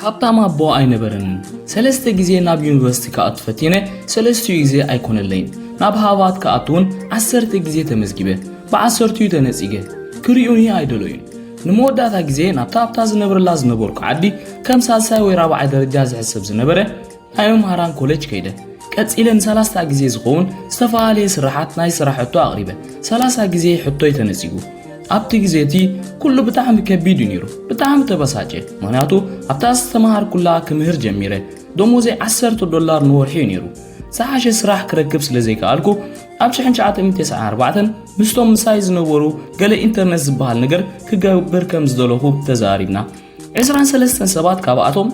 ሃብታም ኣቦ ኣይነበረንን። ሰለስተ ግዜ ናብ ዩኒቨርሲቲ ክኣቱ ፈቲነ፣ ሰለስቲኡ ግዜ ኣይኮነለይን። ናብ ሃቫት ክኣቱውን ዓሰርተ ግዜ ተመዝጊበ፣ ብዓሰርቲኡ ተነጺገ። ክሪኡኒ ኣይደለዩን። ንመወዳእታ ግዜ ናብታ ኣብታ ዝነብረላ ዝነበርኩ ዓዲ ከም ሳልሳይ ወይ ራብዓይ ደረጃ ዝሕሰብ ዝነበረ፣ ናይ መምሃራን ኮለጅ ከይደ ቀጺለ ንሰላስታ ግዜ ዝኸውን ዝተፈላለየ ስራሓት ናይ ስራሕ ሕቶ ኣቕሪበ ሰላሳ ግዜ ሕቶይ ተነጺጉ ኣብቲ ግዜ እቲ ኩሉ ብጣዕሚ ከቢድ እዩ ነይሩ ብጣዕሚ ተበሳጨ ምክንያቱ ኣብታ ዝተምሃርኩላ ክምህር ጀሚረ ደሞዘይ ዓሰርተ ዶላር ንወርሒ እዩ ነይሩ ዝሓሸ ስራሕ ክረክብ ስለ ዘይከኣልኩ ኣብ 1994 ምስቶም ምሳይ ዝነበሩ ገለ ኢንተርነት ዝበሃል ነገር ክገብር ከም ዝደለኹ ተዛሪብና ዕስራን ሰለስተን ሰባት ካብኣቶም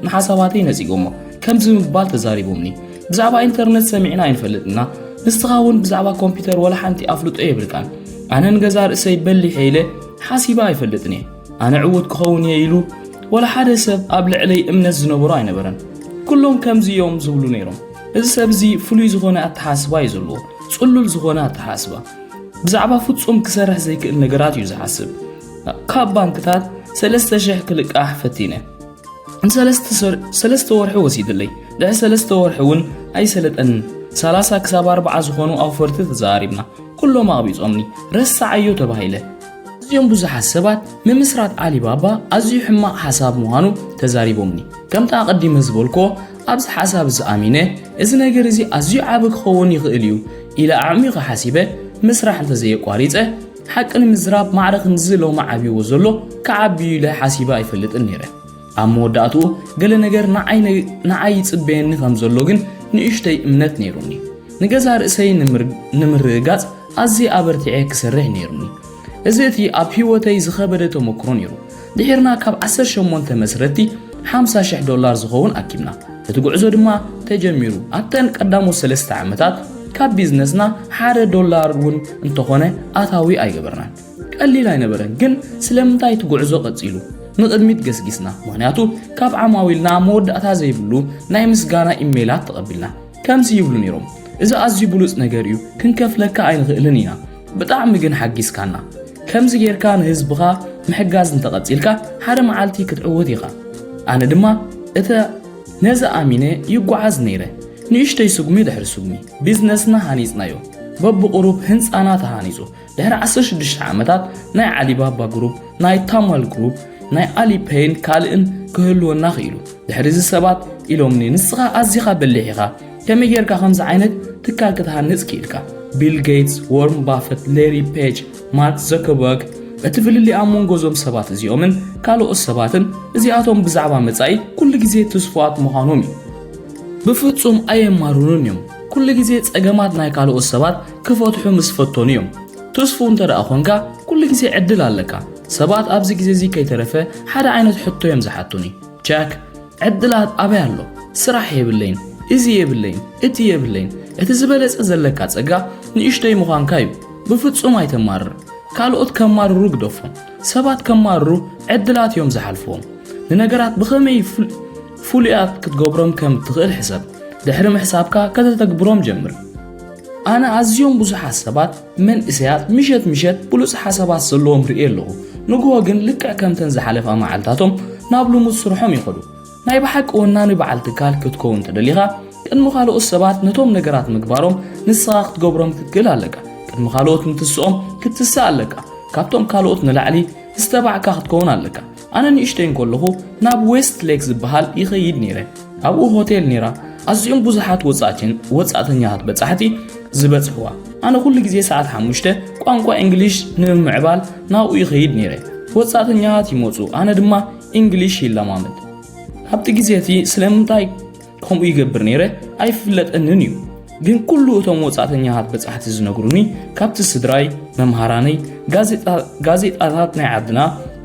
ንሓሳባተይ ነጺጎሞ ከምዚ ምባል ተዛሪቦምኒ ብዛዕባ ኢንተርነት ሰሚዕና ኣይንፈልጥና ንስኻ እውን ብዛዕባ ኮምፒውተር ወላ ሓንቲ ኣፍልጦ የብልካን ኣነ ንገዛ ርእሰይ በሊሐ ኢለ ሓሲበ ኣይፈልጥን እየ ኣነ ዕውት ክኸውን እየ ኢሉ ወላ ሓደ ሰብ ኣብ ልዕለይ እምነት ዝነበሮ ኣይነበረን ኩሎም ከምዚ እዮም ዝብሉ ነይሮም እዚ ሰብ እዚ ፍሉይ ዝኾነ ኣተሓስባ እዩ ዘለዎ ጽሉል ዝኾነ ኣተሓስባ ብዛዕባ ፍጹም ክሰርሕ ዘይክእል ነገራት እዩ ዝሓስብ ካብ ባንክታት ሰለስተ ሽሕ ክልቃሕ ፈቲነ ንሰለስተ ሰ- ሰለስተ ወርሒ ወሲድለይ ድሕሪ ሰለስተ ወርሒ እውን ኣይሰለጠንን 30 ክሳብ 40 ዝኾኑ ኣውፈርቲ ተዘራሪብና ኩሎም ኣቕቢፆምኒ ረሳዓዮ ተባሂለ እዚኦም ብዙሓት ሰባት ምምስራት ዓሊባባ ኣዝዩ ሕማቕ ሓሳብ ምዃኑ ተዛሪቦምኒ ከምቲ ኣቐዲመ ዝበልኮ ኣብዚ ሓሳብ እዚ ኣሚነ እዚ ነገር እዚ ኣዝዩ ዓቢ ክኸውን ይኽእል እዩ ኢለ ኣዕሚቐ ሓሲበ ምስራሕ እንተዘየቋሪፀ ሓቂ ንምዝራብ ማዕረ ክንድዚ ሎሚ ዓብይዎ ዘሎ ክዓቢ እዩ ኢለ ሓሲበ ኣይፈልጥን ነይረ። ኣብ መወዳእትኡ ገለ ነገር ንዓይ ይጽበየኒ ከም ዘሎ ግን ንእሽተይ እምነት ነይሩኒ። ንገዛ ርእሰይ ንምርግጋጽ ኣዝየ ኣበርቲዐ ክሰርሕ ነይሩኒ። እዚ እቲ ኣብ ህይወተይ ዝኸበደ ተመክሮ ነይሩ። ድሒርና ካብ ዓሰርተ ሸሞንተ መስረቲ ሓምሳ ሽሕ ዶላር ዝኸውን ኣኪብና። እቲ ጉዕዞ ድማ ተጀሚሩ። ኣብተን ቀዳሞት ሰለስተ ዓመታት ካብ ቢዝነስና ሓደ ዶላር እውን እንተኾነ ኣታዊ ኣይገበርናን። ቀሊል ኣይነበረን፣ ግን ስለምንታይ እቲ ጉዕዞ ቀጺሉ? ንቕድሚት ገስጊስና፣ ምኽንያቱ ካብ ዓማዊልና መወዳእታ ዘይብሉ ናይ ምስጋና ኢሜይላት ተቐቢልና። ከምዚ ይብሉ ነይሮም፣ እዚ ኣዝዩ ብሉጽ ነገር እዩ፣ ክንከፍለካ ኣይንኽእልን ኢና። ብጣዕሚ ግን ሓጊዝካና ከምዚ ጌርካ ንህዝብኻ ምሕጋዝ እንተቐጺልካ ሓደ መዓልቲ ክትዕወት ኢኻ ኣነ ድማ እተ ነዚ ኣሚነ ይጓዓዝ ነይረ ንእሽተይ ስጉሚ ድሕሪ ስጉሚ ቢዝነስና ሃኒጽናዮ በብቑሩብ ህንፃና ተሃኒጹ ድሕሪ 16 ዓመታት ናይ ዓሊባባ ግሩፕ ናይ ታማል ግሩፕ ናይ ኣሊፔይን ካልእን ክህልወና ክኢሉ ድሕሪዚ ሰባት ኢሎምኒ ንስኻ ኣዚኻ በሊሕ ኢኻ ከመይ ጌርካ ከምዚ ዓይነት ትካል ክትሃንጽ ክኢልካ? ቢል ጌትስ፣ ዎርም ባፈት፣ ሌሪ ፔጅ፣ ማርክ ዘከርበርግ፣ እቲ ፍልልይ ኣብ መንጎ እዞም ሰባት እዚኦምን ካልኦት ሰባትን እዚኣቶም ብዛዕባ መጻኢ ኩሉ ግዜ ትስፉዋት ምዃኖም እዩ። ብፍጹም ኣየማርሩን እዮም። ኩሉ ግዜ ጸገማት ናይ ካልኦት ሰባት ክፈትሑ ምስ ፈተኑ እዮም። ትስፉው እንተደኣ ኾንካ ኩሉ ግዜ ዕድል ኣለካ። ሰባት ኣብዚ ግዜ እዚ ከይተረፈ ሓደ ዓይነት ሕቶ እዮም ዝሓቱኒ፣ ጃክ፣ ዕድላት ኣበይ ኣሎ ስራሕ የብለይን እዚ የብለይን እቲ የብለይን እቲ ዝበለጸ ዘለካ ጸጋ ንእሽተይ ምዃንካ እዩ ብፍጹም ኣይተማርር ካልኦት ከማርሩ ግደፎም ሰባት ከማርሩ ዕድላት እዮም ዝሓልፍዎም ንነገራት ብኸመይ ፍሉያት ክትገብሮም ከም እትኽእል ሕሰብ ድሕሪ ምሕሳብካ ከተተግብሮም ጀምር ኣነ ኣዝዮም ብዙሓት ሰባት መንእሰያት ምሸት ምሸት ብሉጽ ሓሳባት ዘለዎም ርእየ ኣለኹ፣ ንግሆ ግን ልክዕ ከምተን ዝሓለፋ መዓልታቶም ናብ ልሙድ ስርሖም ይኸዱ። ናይ ብሓቂ ወናኒ በዓል ትካል ክትከውን ተደሊኻ ቅድሚ ካልኦት ሰባት ነቶም ነገራት ምግባሮም ንስኻ ክትገብሮም ክትክእል ኣለካ። ቅድሚ ካልኦት ምትስኦም ክትትስእ ኣለካ። ካብቶም ካልኦት ንላዕሊ ዝተባዕካ ክትከውን ኣለካ። ኣነ ንእሽተይ እንከለኹ ናብ ዌስት ሌክ ዝበሃል ይኸይድ ነይረ። ኣብኡ ሆቴል ነይራ፣ ኣዝዮም ብዙሓት ወጻእቲን ወጻእተኛታት በጻሕቲ ዝበጽሕዋ። ኣነ ኩሉ ግዜ ሰዓት ሓሙሽተ ቋንቋ እንግሊሽ ንምምዕባል ናብኡ ይኸይድ ነይረ። ወጻእተኛታት ይመጹ፣ ኣነ ድማ እንግሊሽ ይለማመድ። ኣብቲ ግዜ እቲ ስለምንታይ ከምኡ ይገብር ነይረ ኣይፍለጠንን እዩ ግን ኩሉ እቶም ወፃእተኛታት በፃሕቲ ዝነግሩኒ ካብቲ ስድራይ መምሃራነይ ጋዜጣታት ናይ ዓድና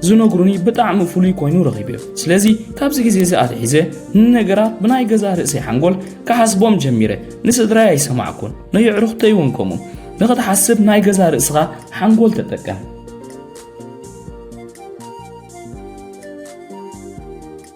ዝነግሩኒ ብጣዕሚ ፍሉይ ኮይኑ ረኺብዮ ስለዚ ካብዚ ግዜ እዚ ኣትሒዘ ንነገራት ብናይ ገዛ ርእሰይ ሓንጎል ክሓስቦም ጀሚረ ንስድራይ ኣይሰማዕኩን ነየዕሩኽተይ እውን ከምኡ ንኽትሓስብ ናይ ገዛ ርእስኻ ሓንጎል ተጠቀም